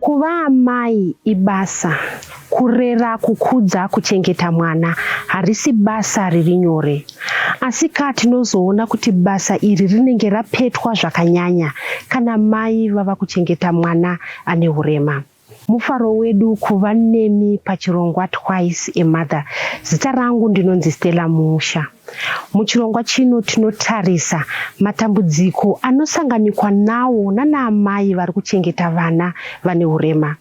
Kuva amai ibasa. Kurera, kukudza, kuchengeta mwana harisi basa riri nyore. Asi ka tinozoona kuti basa iri rinenge rapetwa zvakanyanya kana mai vava kuchengeta mwana ane urema. Mufaro wedu kuva nemi pachirongwa Twice a Mother. Zita rangu ndinonzi Stella Musha. Muchirongwa chino tinotarisa matambudziko anosanganikwa nawo nanaamai vari kuchengeta vana vane urema.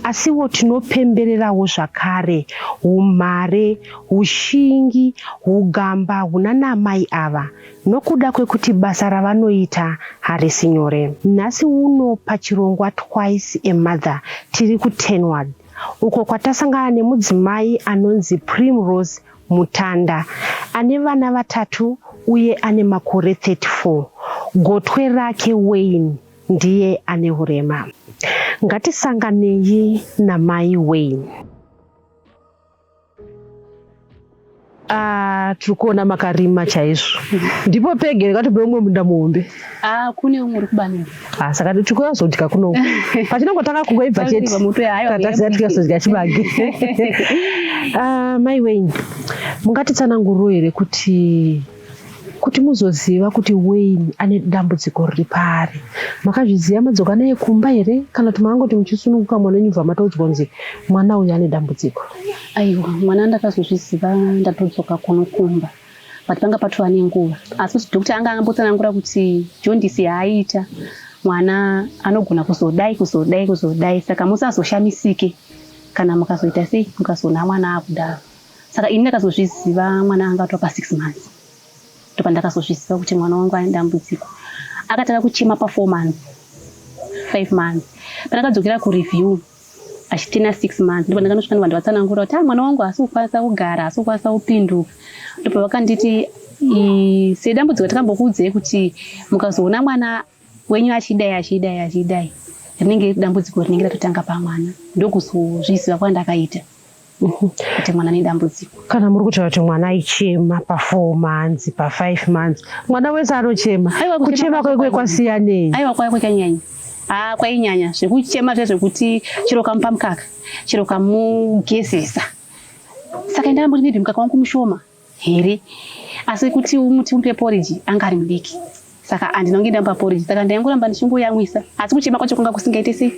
Asiwo tinopembererawo zvakare umhare, ushingi, ugamba hunanaamai ava nokuda kwekuti basa ravanoita harisi nyore. Nhasi uno pachirongwa Twice a Mother tiri kuTenward uko kwatasangana nemudzimai anonzi Primrose Mutanda ane vana vatatu uye ane makore 34. Gotwe rake Wayne ndiye ane urema. Ngatisanganei namai Wayne. Ah, tiri kuona makarima chaizvo ndipo pege rekatope umwe munda muhombe ah, kune umwe uri kubanira ah, saka tiri kuuya kuzodya kunoku pachinongotanga kungo ibva chete tatasiya tiri kuzodya chibage ah, mai wenyu mungatitsananguriro here kuti kuti muzoziva kuti Wayne ane dambudziko riri paari. Makazviziva madzoka naye kumba here kana kuti makangoti muchisununguka mwana wenyu bva mataudzwa kunzi mwana uyu ane dambudziko? Aiwa, mwana ndakazozviziva ndatodzoka kuno kumba but panga patova nenguva asi kuti doctor anga angambotsanangura kuti jondisi yaaita mwana anogona kuzodai kuzodai kuzodai saka musazoshamisike kana mukazoita sei mukazoona mwana akudaro saka ini ndakazozviziva mwana anga atova pasix months ndopandakazozviziva kuti mwana wangu ane dambudziko akatanga kuchema pafour months five months pandakadzokera kureview achitina six months ndipo ndakanosvika ndovanhu vatsanangura kuti a ah, mwana wangu haasi kukwanisa kugara haasi kukwanisa kupinduka ndopavakanditi sedambudziko takambokuudzei kuti mukazoona mwana wenyu achidai achidai achidai rinenge riri dambudziko rinenge ratotanga pamwana ndokuzozviziva kwandakaita mhm. kuti mwana nedambudziko kana muri kutaura kuti mwana aichema pafour months pafive months mwana wese anochema kuchema kwekwe kwasiyanei aiwa kwaya kwekanyanya haa ah, kwainyanya zvekuchema zve zvekuti chero kamupa mukaka chero kamugezesa saka ndambuti maybe mukaka wangu mushoma here asi kuti umuti upe poriji anga ari mudiki saka andinonge ndamupa poriji saka ndaingoramba ndichingoyamwisa asi kuchema kwacho kunga kusingaite sei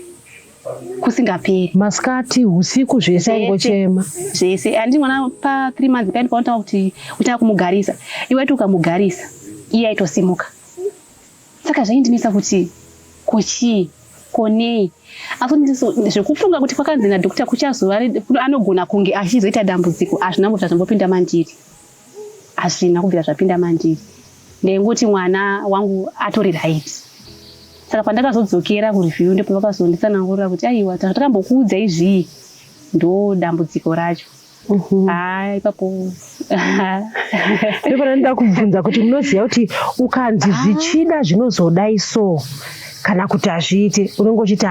kusingaperi masikati usiku zvese aingochema zvese andi mwana pa three months paini paunotanga kuti utanga kumugarisa iwaiti ukamugarisa iye aitosimuka Saka zvaindinetsa kuti ko chii ko nei asi zvekufunga kuti kwakanzi nadhokota kuchazova anogona kunge achizoita dambudziko hazvina kubvira zvambopinda mandiri hazvina kubvira zvapinda mandiri ndaingoti mwana wangu atori right saka pandakazodzokera kureview ndipo vakazonditsanangurira kuti aiwa takambokuudza izvii ndo dambudziko racho Mhm. haa ipapo ndipo ndanoda kubvunza kuti munoziva kuti ukanzi ah. zvichida zvinozodai so kana kuti hazviite unenge uchiti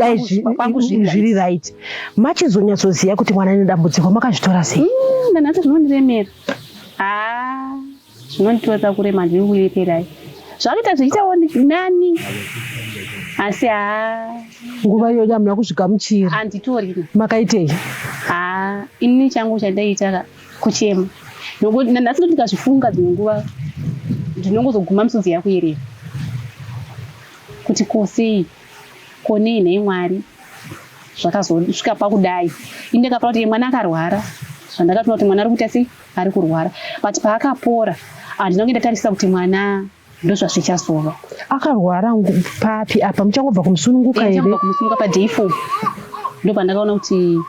haazviri ah, right machizonyatsoziva kuti mwana ane dambudziko makazvitora sei mm, ndanati zvinondiremera haa ah. Zvinonditotsa kurema zviri kureperai zvakaita zvichiitawo nani asi haa nguva iyoyo hamuna kuzvigamuchira handitorina makaitei haa ini changu chandaita kuchema nokuti nhasi ndikazvifunga dzimwe nguva ndinongozoguma misodzi yakuyerera kuti kosei konei nhai mwari zvakazosvika pakudai ini ndakapara kuti mwana akarwara zvandakatoona kuti mwana ari kuita sei ari kurwara but paakapora handina kunge ndatarisa kuti mwana ndozvazvichazova akarwara papi apa muchangobva kumusununguka here kumusununguka paday four ndopandakaona kuti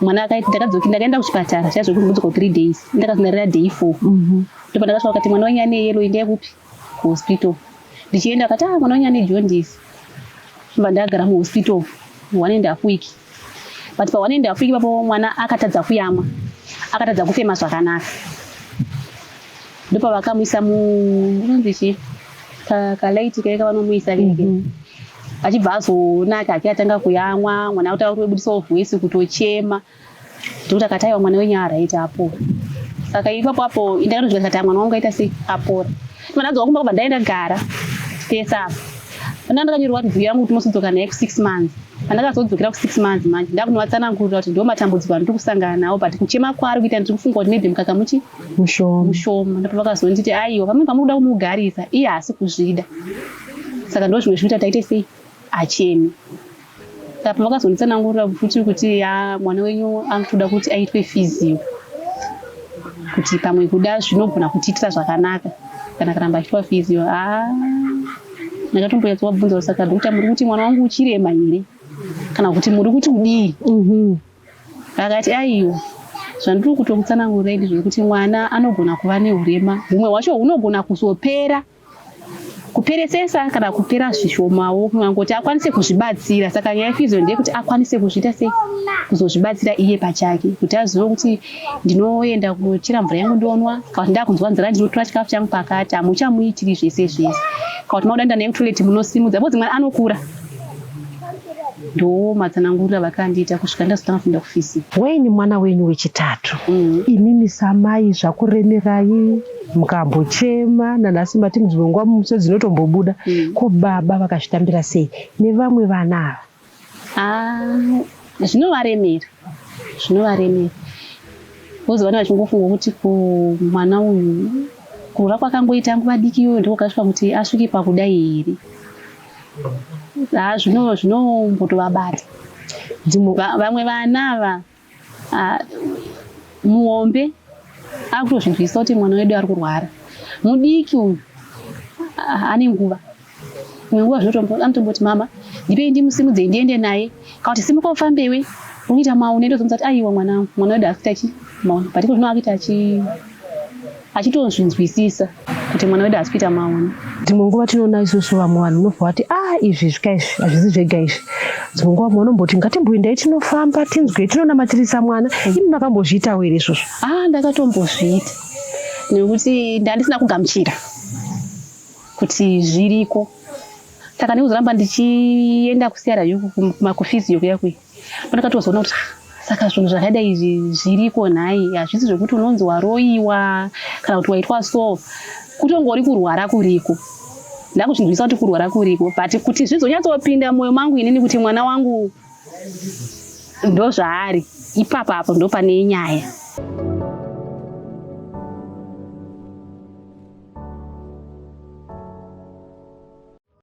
mwana ndakadzoki ndakaenda kuchipatara chaizvo kuti ndodzoka three days ndakazodarira day four mhm. ndopandakasvika kuti mwana wenyu ane yelo indaye kupi kuhospital ndichienda akati ah mwana wenyu ane jaundice ndobva ndagara muhospital one and half week but pa one and half week papo mwana akatadza kuyamwa akatadza kufema zvakanaka ndopavakamuisa munonzi chii kalaiti kaye kavanomuisa vege mhm. achibva azonaka ake atanga kuyamwa mwana kuti auri webudisawo voice kutochema Ndokuti akati aiwa mwana wenyu araiti apora. Saka ipapo apo ndakatozvika ndikati ah, mwana wangu aita sei apora. Ndibva ndadzoka kumba kubva ndaenda gara pese apa. Pandanga ndakanyorerwa kuti vhiyo yangu kuti mosodzoka naye ku six months. Pandakazodzokera ku six months manje ndakunovatsanangurira kuti ndo matambudziko andiri kusangana nawo but kuchema kwaari kuita ndiri kufunga kuti maybe mukaka muchi mushoma mushoma ndipo vakazonditi aiwa pamwe pamuri kuda kumugarisa iye haasi kuzvida saka ndo zvimwe zvinoita taite sei acheme apa vakazonditsanangurira futi kuti ya mwana wenyu anotoda kuti aitwe fizio kuti pamwe kuda zvinogona kutiitira zvakanaka kana karamba achiitwa fizio a ndakatomboyatsa wabvunza kusaka dokta muri kuti mwana wangu uchirema here kana kuti muri kuti kudii mhm. akati aiwa zvandiri kutokutsanangurei ndizvekuti mwana anogona kuva neurema humwe hwacho hunogona kuzopera kuperesesa kana kupera zvishomawo kuti akwanise kuzvibatsira saka nyaya yefizo ndeyekuti akwanise kuzviita sei kuzozvibatsira iye pachake kuti azive kuti ndinoenda kuchera mvura yangu ndonwa kana kuti ndakunzwa nzira ndinotora chikafu changu pakati hamuchamuitiri zvese zvese kana kuti makuda nda nekutoileti munosimudza bozi mwana anokura ndoo matsanangurira vakandiita kusvika ndazotanga kuenda kufisi weini mwana wenyu wechitatu mm. imimi samai zvakuremerai mukambochema nanhasi mati dzimwe nguva muso dzinotombobuda mm. ko baba vakazvitambira sei nevamwe vana ava ah, zvinovaremera zvinovaremera vozi vana vachingofunga kuti kumwana uyu kurora kwakangoita nguva diki iyoyo ndiko kasvika kuti asvike pakudai here ah, zvino zvinombotovabata vamwe vana ava Ah, muhombe akutozvinzwisisa kuti mwana wedu ari kurwara mudiki uyu ah, ane nguva imwe nguva zvanotomboti mama ndipei ndimusimudzei ndiende naye kana kuti simuka ufambewe unoita maune ndozomuza kuti aiwa mwana wangu mwana wedu akuita chi maune but iko zvino akuita chi achitonzvinzwisisa kuti mwana wedu hasi kuita maona dzimwe nguva tinoona isusu vamwe vanhu unobva wati a ah, izvi zvika izvi hazvisi zvega izvi dzimwe nguva mwe anomboti ngatimboendai tinofamba tinzwe tinonamatirisa mwana imi makambozviitawo here izvozvo a ah, ndakatombozviita nekuti ndandisina kugamuchira kuti zviriko saka ndikuzoramba ndichienda kusiyara yuku kumakofizi yokuya kuya pandakatozoona kuti saka zvinhu zvakadai izvi zviriko nhai hazvisi zvekuti unonzi waroiwa kana kuti waitwa so kutongori kurwara kuriko ndakuchinzwisa kuti kurwara kuriko but kuti zvizonyatsopinda mwoyo mangu inini kuti mwana wangu ndozvaari ipapo apo ndopane nyaya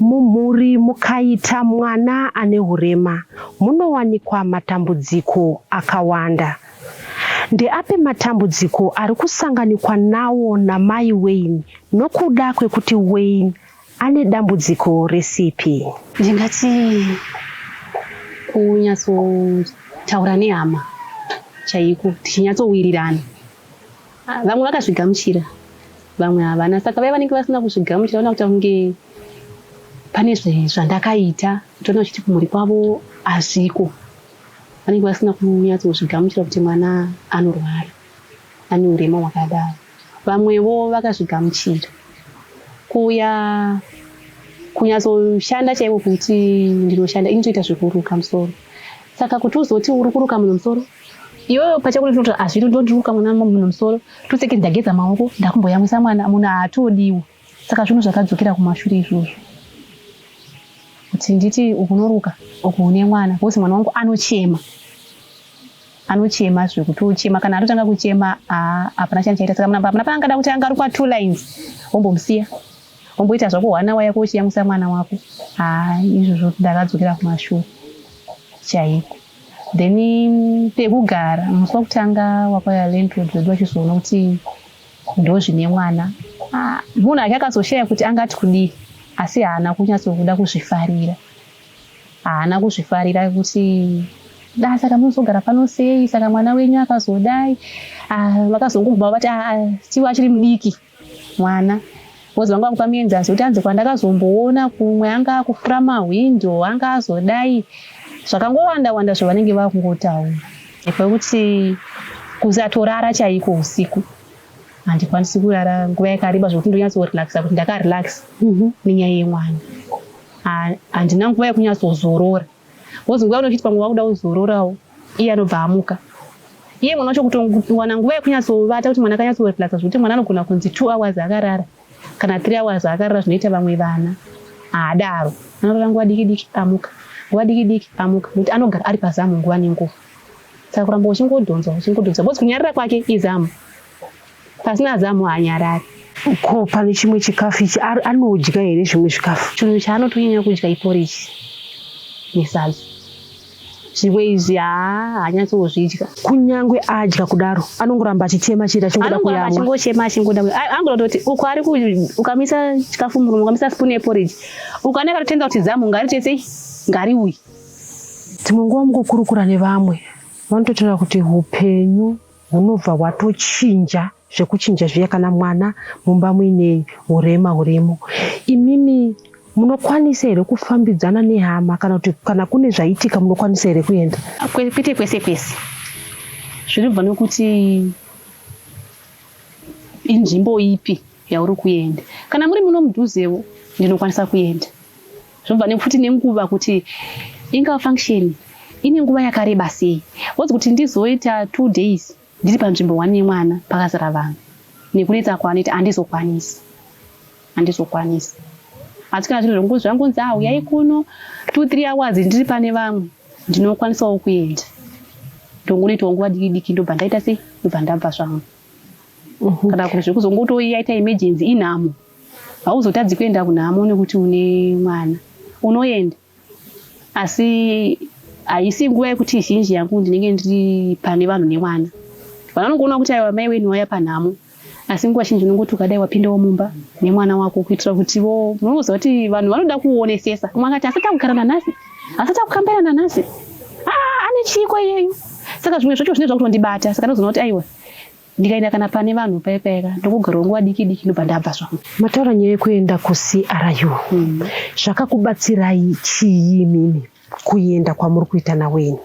Mumhuri mukaita mwana ane hurema munowanikwa matambudziko akawanda. Ndeapi matambudziko ari kusanganikwa nawo namai Wayne nokuda kwekuti Wayne ane dambudziko resipi. Ndingati kunyatsotaura nehama chaiko tichinyatsowirirana. Ah, vamwe vakazvigamuchira vamwe havana saka vaye vanenge vasina kuzvigamuchira vana kuta kunge pane zvandakaita toona chiti kumhuri kwavo hazviko vanenge vasina kunyatsozvigamuchira kuti mwana anorwara ane urema hwakadaro Vamwewo vakazvigamuchira kuuya kunyatsoshanda chaivo kuti ndinoshanda inotoita zvekuruka musoro saka kuti uzoti uri kuruka munhu musoro iyoyo pachako ndinoti hazviri ndondiruka mwana munhu musoro toseke ndageza maoko ndakumboyamwisa mwana munhu haatodiwo saka zvinhu zvakadzokera kumashure izvozvo kuti nditi ukunoruka uku une mwana bcause mwana wangu anochema anochema zvekuti uchema kana atotanga kuchema ah, hapana chani chaita saka munamba hapana paangada kuti anga arikwa two lines wombomusiya womboita zvako one hour yako uchiyamwisa mwana wako ah, izvozvo ndakadzokera kumashure chaiko then mm, pekugara musi wakutanga wakwaya landlord vedu vachizoona kuti ndozvine mwana ah, munhu ake akazoshaya kuti angati kudii asi haana kunyatsokuda kuzvifarira Haana kuzvifarira kuti da saka munozogara pano sei saka mwana wenyu akazodai ah, vakazongobva vati ah, ah, tiwa achiri mudiki mwana bcoz vanga vakupa muenzasi kuti anzi kwandakazomboona kumwe anga akufura mahwindo anga azodai zvakangowanda wanda zvavanenge vakungotaura kwekuti kusatorara chaiko usiku handikwanisi kurara nguva yakareba zvokuti ndonyatsorelaxa kuti ndakarelax mhm. nenyaya yemwana handina nguva yekunyatsozorora bcoz nguva yaunochiti pamwe wakuda kuzororawo iye anobva amuka iye mwana wacho kutowana nguva yekunyatsovata kuti mwana akanyatsorelaxa zvekuti mwana anogona kunzi two hours akarara kana three hours akarara zvinoita vamwe vana haadaro anorara nguva diki diki amuka nguva diki diki amuka nekuti anogara ari pazamu nguva nenguva saka kuramba uchingodhonzwa uchingodhonzwa bcoz kunyarira kwake izamu Pasina zamu haanyarari. Ko pane chimwe chikafu ichi anodya here zvimwe zvikafu? Chinhu chaanotonyanya kudya iporiji nesadza. Zvimwe izvi haa haanyatsozvidya. Kunyangwe adya kudaro anongoramba achichema chete achingoda kuyamwa. Achingochema achingoda kuyamwa. Angoda kuti uko ari ukamisa chikafu murume ukamisa spoon yeporiji uko anenge atotenda kuti zamu ngaritese ngariuyi. Dzimwe nguva mukukurukura nevamwe vanototaura kuti upenyu hunobva hwatochinja zvekuchinja zviya kana mwana mumba muine urema hurimo imimi munokwanisa here kufambidzana nehama kana kuti kana kune zvaitika munokwanisa here kuenda kwete kwese kwese zvinobva nekuti inzvimbo ipi yauri kuenda kana muri muno mudhuzewo ndinokwanisa kuenda Zvobva nekuti nenguva kuti inga function ine nguva yakareba sei wodzi kuti ndizoita two days ndiri panzvimbo one yemwana pakazara vanhu nekunetsa kwanoita handizokwanisi handizokwanisi asi kana zviri zvongozi zvangonzi a uyai kuno two three hours ndiri pane vamwe ndinokwanisawo kuenda ndongonoitawo nguva diki diki ndobva ndaita sei ndobva ndabva zvangu mhm. kana kuti zvekuzongotoiyaita emergency inhamo hauzotadzi kuenda kunhamo nekuti une mwana unoenda asi haisi nguva yekuti zhinji yangu ndinenge ndiri pane vanhu nemwana vana vanongoona kuti aiwa mai wenu waya panhamo asi nguva zhinji unongoti ukadai wapindawo mumba nemwana wako kuitira kuti vo munoziva kuti vanhu vanoda kuonesesa umwe akati asati akugara nanhasi asati akukambaira nanhasi ah, ane chiiko iyeyu saka zvimwe zvacho zvinenge zvakuto ndibata saka ndozoona kuti aiwa ndikaenda kana pane vanhu paye payeka ndokugarawo nguva diki diki ndobva ndabva zvangu mataura nyaya yekuenda kucru mm. zvakakubatsirai chii mimi kuenda kwamuri kuita naweni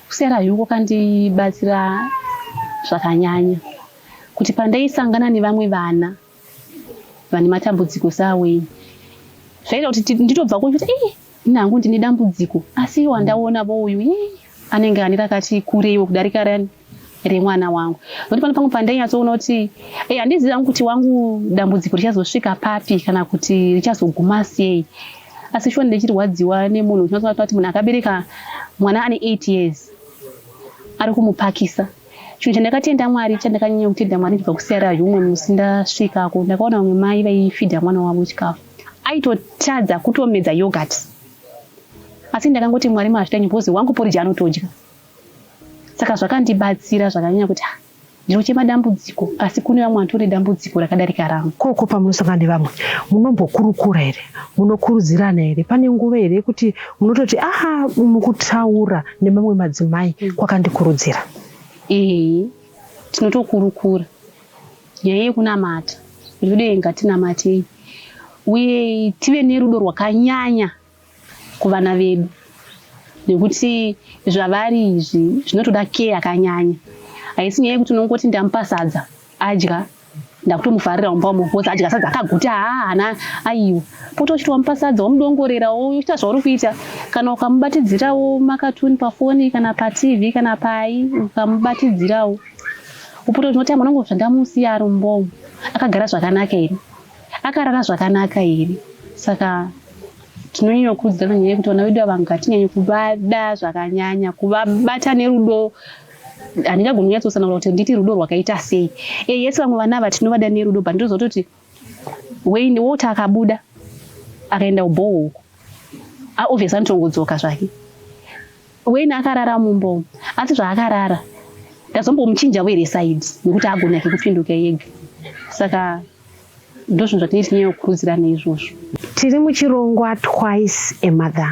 kucru kwakandibatsira zvakanyanya kuti pandaisangana nevamwe vana vane matambudziko saWayne zvaita kuti nditobva kunzva kuti eh nangu ndine dambudziko asi iwo andaona vo uyu eh anenge ane rakati kureiwo kudarika rani remwana wangu nokuti pano pamwe pandainyatsoona kuti eh handizivi hangu kuti wangu dambudziko richazosvika papi kana kuti richazoguma sei asi shuwa ndichirwadziwa nemunhu uchinyatsoona kuti munhu akabereka mwana ane 8 years ari kumupakisa Chinhu chandakatenda Mwari, chandakanyanya kutenda Mwari kubva kuSierra Leone umwe musi ndasvikako, ndakaona vamwe mai vaifidha mwana wavo chikafu. Aitotadza kutomedza yogurt. Asi ndakangoti Mwari mazvita nyumba uzi wangu porridge anotodya. Saka zvakandibatsira zvakanyanya kuti ah, ndiro chemadambudziko asi kune vamwe vatori dambudziko rakadarika rangu. Koko pamunosangana nevamwe munombokurukura here? munokurudzirana here pane nguva here yekuti munototi aha mukutaura nemamwe madzimai mm. kwakandikurudzira ee tinotokurukura nyaya yekunamata ndikude ngatinamatei uye tive nerudo rwakanyanya kuvana vedu nekuti zvavari izvi zvinotoda kee yakanyanya haisi nyaya yekuti unongoti ndamupa sadza adya ndakutomufarira wamba wamukoza adya sadza akaguta haana aiwa poto uchiti wamupa sadza wamudongorerawo uchiita zvauri kuita kana ukamubatidzirawo makatuni pafoni kana patv kana pai ukamubatidzirawo upoto tinoti amwana ngo zvandamusiya ari mumbomo akagara zvakanaka here akarara zvakanaka here saka tinonyanya kukurudzira vanyanya kuti vana vedu ava ngatinyanyo kuvada zvakanyanya kuvabata nerudo handingagoni kunyatsosanangura kuti nditi rudo rwakaita sei e yes vamwe vana ava tinovada nerudo but ndozototi wayne woti akabuda akaenda kubhoho uko aobvious anotongodzoka zvake wayne akarara mumbomo asi zvaakarara ndazombomuchinja were side nekuti agona ke kupinduka yega saka ndozvinhu zvatinei tinyanya kukurudzirana izvozvo tiri muchirongwa twice a mother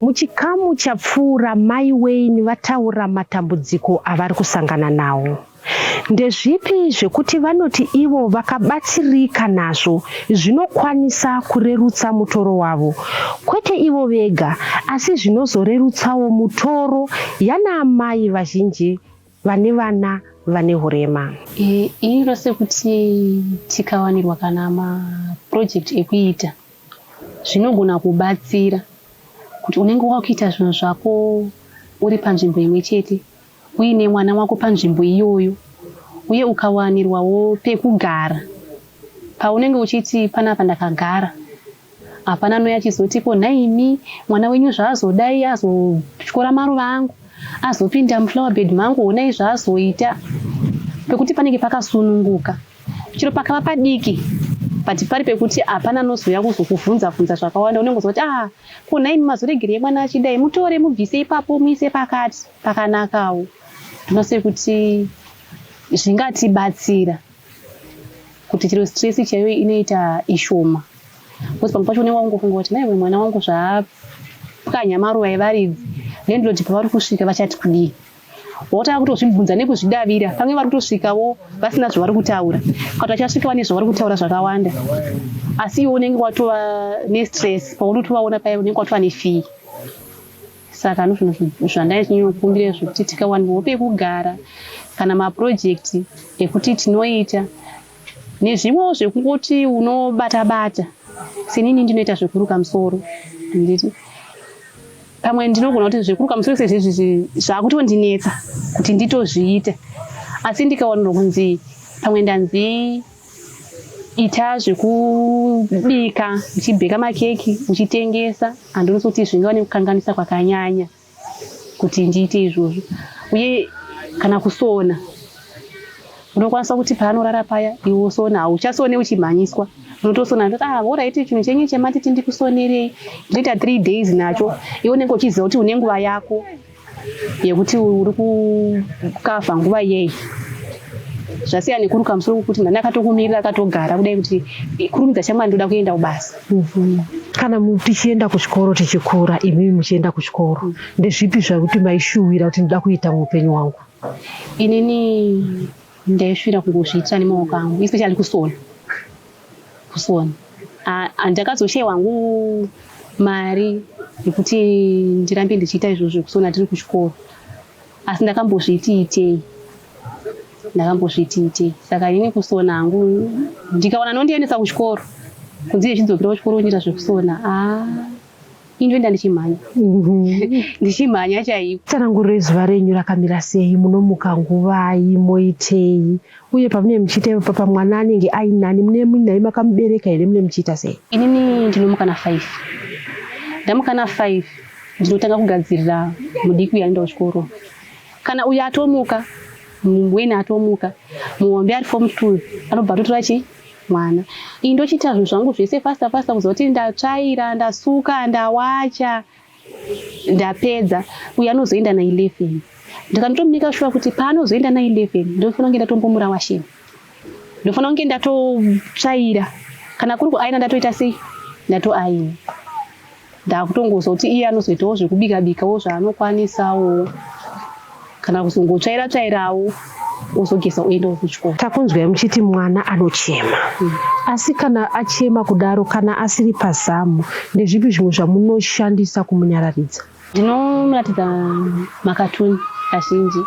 Muchikamu chapfuura Mai Wayne vataura matambudziko avari kusangana nawo. Ndezvipi zvekuti vanoti ivo vakabatsirika nazvo zvinokwanisa kurerutsa mutoro wavo kwete ivo vega asi zvinozorerutsawo mutoro yanaamai vazhinji vane vana vane hurema. Iro sekuti tikawanirwa kana mapurojekiti ekuita zvinogona kubatsira kuti unenge wakuita zvinhu zvako uri panzvimbo imwe chete uine mwana wako panzvimbo iyoyo uye ukawanirwawo pekugara paunenge uchiti panapa ndakagara Hapana anouya achizoti ko nhaimi mwana wenyu zvaazodai azotyora maruva angu azopinda muflower bed mangu honai zvaazoita pekuti panenge pakasununguka chero pakava padiki but pari pekuti hapana anozouya kuzokuvhunza vhunza zvakawanda unenge uziva kuti a ah, ko nhaimi mazoregerei mwana achidai mutore mubvise ipapo muise pakati pakanakawo ndinose kuti zvingatibatsira kuti chero stress chaiyo inoita ishoma because pamwe pacho unenge wakungofunga kuti naiwe mwana wangu zvaapwanya maruva evaridzi landlord pavari kusvika vachati kudii wotanga kutozvibvunza nekuzvidavira pamwe vari kutosvikawo vasina zvavari kutaura kati vachasvika vane zvavari kutaura zvakawanda asi iwe unenge watova nestress paunotovaona paya unenge watova nefee saka ndozvinhu zvandaive chinyonyokumbira izvo kuti tikawanirwo pekugara kana mapurojekti ekuti tinoita nezvimwewo zvekungoti unobata bata senini ndinoita zvekuruka musoro handiti pamwe ndinogona kuti zvekuruka musoro sezvezvizvi zvakutondinetsa kuti nditozviite asi ndikawanirwa kunzi pamwe ndanzi ita zvekubika uchibheka makeki uchitengesa handionisi kuti zvingava nekukanganisa kwakanyanya kuti ndiite izvozvo uye kana kusona unokwanisa kuti paanorara paya iwe usona hauchasone uchimhanyiswa unotosona ndoti ah oraiti chinhu chenye chematiti ndikusonerei ndinoita three days nacho iwe unenge uchiziva kuti une nguva yako yekuti uri kukavha nguva yei zvasiya nekuruka musoro kwekuti mhani akatokumirira akatogara kudai kuti kurumidza shamwa ndoda kuenda kubasa mhm. kana tichienda kuchikoro tichikura imimi muchienda kuchikoro ndezvipi zvakuti maishuwira kuti ndoda kuita muupenyu wangu inini ndaishuwira kungozviitira nemaoko angu especially kusona kufona handakazoshaiwa hangu mari yekuti ndirambe ndichiita izvozvo zvekusona tiri kuchikoro asi ndakambozviti itei ndakambozviti itei saka ini kusona hangu ndikaona nondiendesa kuchikoro kunzi ichidzokera kuchikoro uchiita zvekusona a ah. ini ndoenda ndichimhanya ndichimhanya chaiko tsananguriro yezuva renyu rakamira sei munomuka nguvai moitei uye pamunee muchiita ipa pamwana anenge ainani mune muinai makamubereka here mune muchiita sei inini ndinomuka na five ndamuka na five ndinotanga kugadzirira mudiki uyaenda kuchikoro kana uyo atomuka mumweni atomuka muhombe ari fom two anobva atotora chii mwana iyi ndochiita zvinhu zvangu zvese fasta fasta kuzoti ndatsvaira ndasuka ndawacha ndapedza uye anozoenda na11 ndikanotomunika shuwa kuti paanozoenda na11 ndinofanira kunge ndatombomura washeni ndofanira kunge ndatotsvaira kana kuri kuaina ndatoita sei ndatoaina ndakutongonzwa kuti iye anozoitawo zvekubika bikawo zvaanokwanisawo kana kuzongotsvaira tsvairawo wozogeza uenda kuchikoro takunzwai muchiti mwana anochema mm. asi kana achema kudaro kana asiri pazamu ndezvipi zvimwe zvamunoshandisa kumunyararidza ndinomuratidza makatuni kazhinji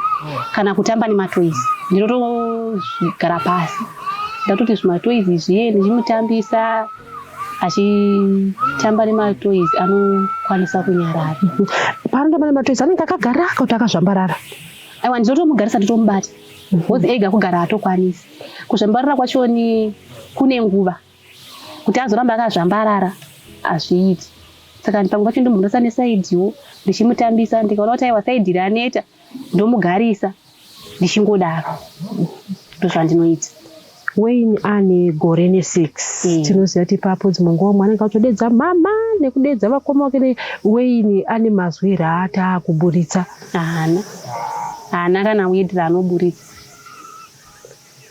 kana kutamba nematoizi ndinotogara pasi ndatoti zvimatoizi zviye ndichimutambisa achitamba nematoys anokwanisa kunyarara paanotamba nematoys anenge akagara kuti akazvambarara aiwa ndinotomugarisa nditomubata bcoz ega kugara atokwanisi kuzvambarara kwachoni kune nguva kuti azoramba akazvambarara hazviiti saka pamwe pacho ndomugarisa nesaidiwo ndichimutambisa ndikaona kuti aiwa saidi raneta ndomugarisa ndichingodaro ndozvandinoita Wayne ane gore nesix mm. tinoziva kuti ipapo dzimwe nguva mwana akatodedza mama nekudedza vakoma wake Wayne ane mazwi here aata kuburitsa haana haana kana word raanoburitsa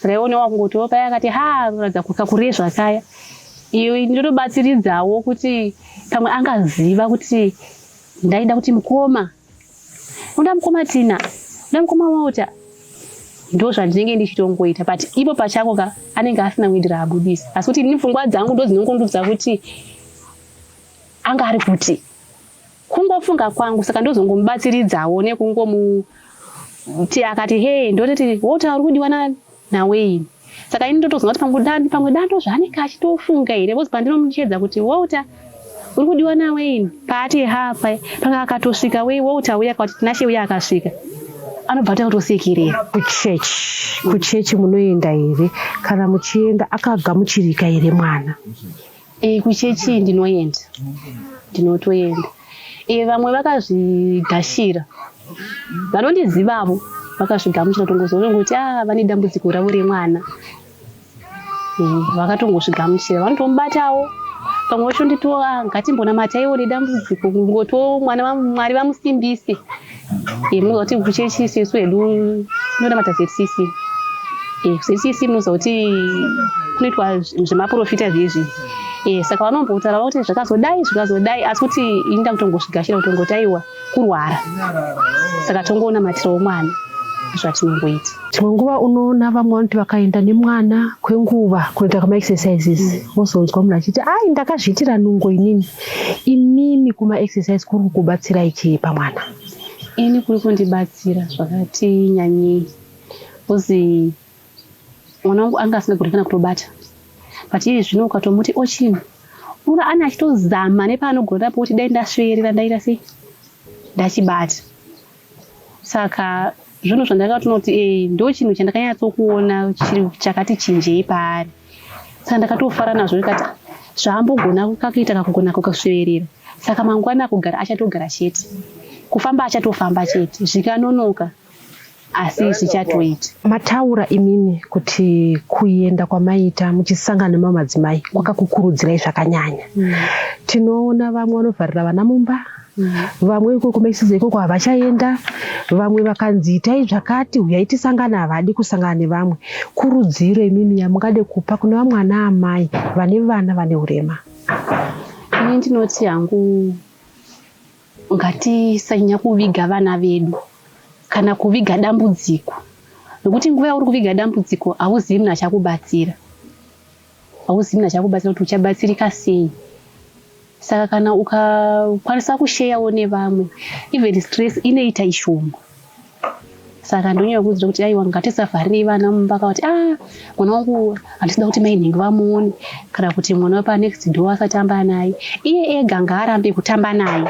raionewa kungotiwo paya akati ha roratidza kakure zvakaya iyo ndinotobatsiridzawo kuti pamwe angaziva kuti ndaida kuti mukoma unoda mukoma Tina unoda mukoma Walter ndo zvandinenge ndichitongoita but ipo pachako ka anenge asina kuindira abudisa asi kuti ini pfungwa dzangu ndo dzinongondudza kuti anga ari kuti kungofunga kwangu saka ndozongomubatsiridzawo nekungomuti akati hee ndototi woti ari kudiwa nani naWayne saka ini ndotozonga kuti pamwe dando pamwe dando zvaanenge achitofunga here bcoz pandinomuchedza kuti Walter uri kudiwa naWayne paati hapa panga akatosvika wei Walter uya akati Tinashe uya akasvika anobva atoita kutosekerera kuchechi kuchechi munoenda here kana muchienda akagamuchirika here mwana E, kuchechi ndinoenda ndinotoenda e, vamwe vakazvigashira vanondizivavo vakazvigamuchira tongozona kuti a ah, vane dambudziko ravo remwana e, vakatongozvigamuchira vanotomubatawo pamwe vacho nditoa ah, ngatimbonamata iwo nedambudziko ngoto mwana mwari vamusimbise Eh, munoziva kuti kuchechi isu hedu tinonamata zcc eh, zcc munoziva kuti kunoitwa zvemaprofita zvezvi eh, saka vanombotaura kuti zvakazodai zvakazodai asi kuti ini ndakutongozvigashira kutongotaiwa kurwara saka tongonamatirawo mwana zvatinongoita dzimwe nguva unoona vamwe vanoti vakaenda nemwana kwenguva kunoita kamaexercises wozonzwa munhu achiti ai ndakazviitira nungo inini Imimi kuma exercise kuri kukubatsirai chii pamwana? Ini kuri kundibatsira zvakati nyanyei bcozi mwana wangu anga asingagoni kana kutobata but iye zvino ukatomuti ochina unoona ane achitozama nepaanogona napo kuti dai ndasveerera ndaita sei ndachibata Saka zvinhu zvandakatonoti e eh, ndo chinhu chandakanyatsokuona chiri chakati chinjei paari saka ndakatofara nazvo ndikati zvaambogona kakuita kakugona kukusveverera saka mangwana akugara achatogara chete kufamba achatofamba chete zvikanonoka asi zvichatoita mataura imimi kuti kuenda kwamaita muchisangana nemamadzimai kwakakukurudzirai zvakanyanya mm. tinoona vamwe vanovharira vana mumba vamwe ikoko maisiza ikoko havachaenda vamwe vakanzi itai zvakati huyai tisangane havadi kusangana nevamwe kurudziro imimi yamungade kupa kune vamwe ana amai vane vana vane urema ini ndinoti hangu ngatisanyanya kuviga vana vedu kana kuviga dambudziko nokuti nguva yauri kuviga dambudziko hauzivi munhu achakubatsira hausina chakubatsira kuti uchabatsirika sei saka kana ukakwanisa kusheyawo nevamwe even stress inoita ishoma saka ndonyaya kuudzira kuti aiwa ngatisavharirei vana mumba kavati a ah, mwana wangu handisida kuti mai nhingi vamuone kana kuti mwana wepanext door asatamba naye iye ega ngaarambe kutamba naye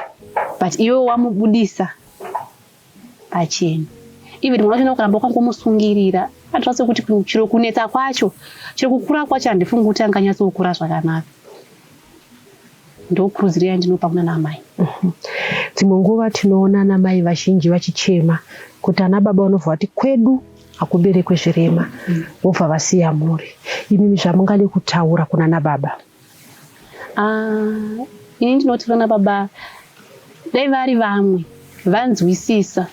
but iwe wamubudisa pachena even mwana wacho nokuramba kwakumusungirira andiratidza kuti chiro kunetsa kwacho chiro kukura kwacho handifungi kuti anganyatsokura zvakanaka ndokurudziro yandinopa kuna namai mhm. dzimwe nguva tinoona ana mai vazhinji vachichema kuti ana baba vanobva vati kwedu hakuberekwe zvirema mm. vobva vasiya mhuri imimi zvamungade kutaura kuna nababa Ah, ini ndinoti vana baba dai vari vamwe vanzwisisa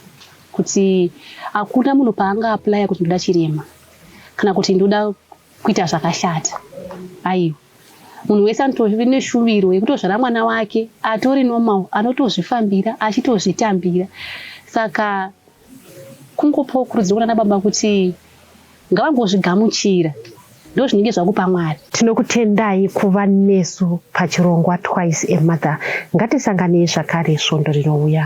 kuti hakuna munhu paanga aplaya kuti ndoda chirema kana kuti ndoda kuita zvakashata aiwa munhu wese anotove neshuviro yekutozvara mwana wake atori normal anotozvifambira achitozvitambira saka Kungopawo kurudziro kunana baba kuti ngavangozvigamuchira ndozvinenge zvakupa mwari tinokutendai kuva nesu pachirongwa twice a mother ngatisanganei zvakare svondo rinouya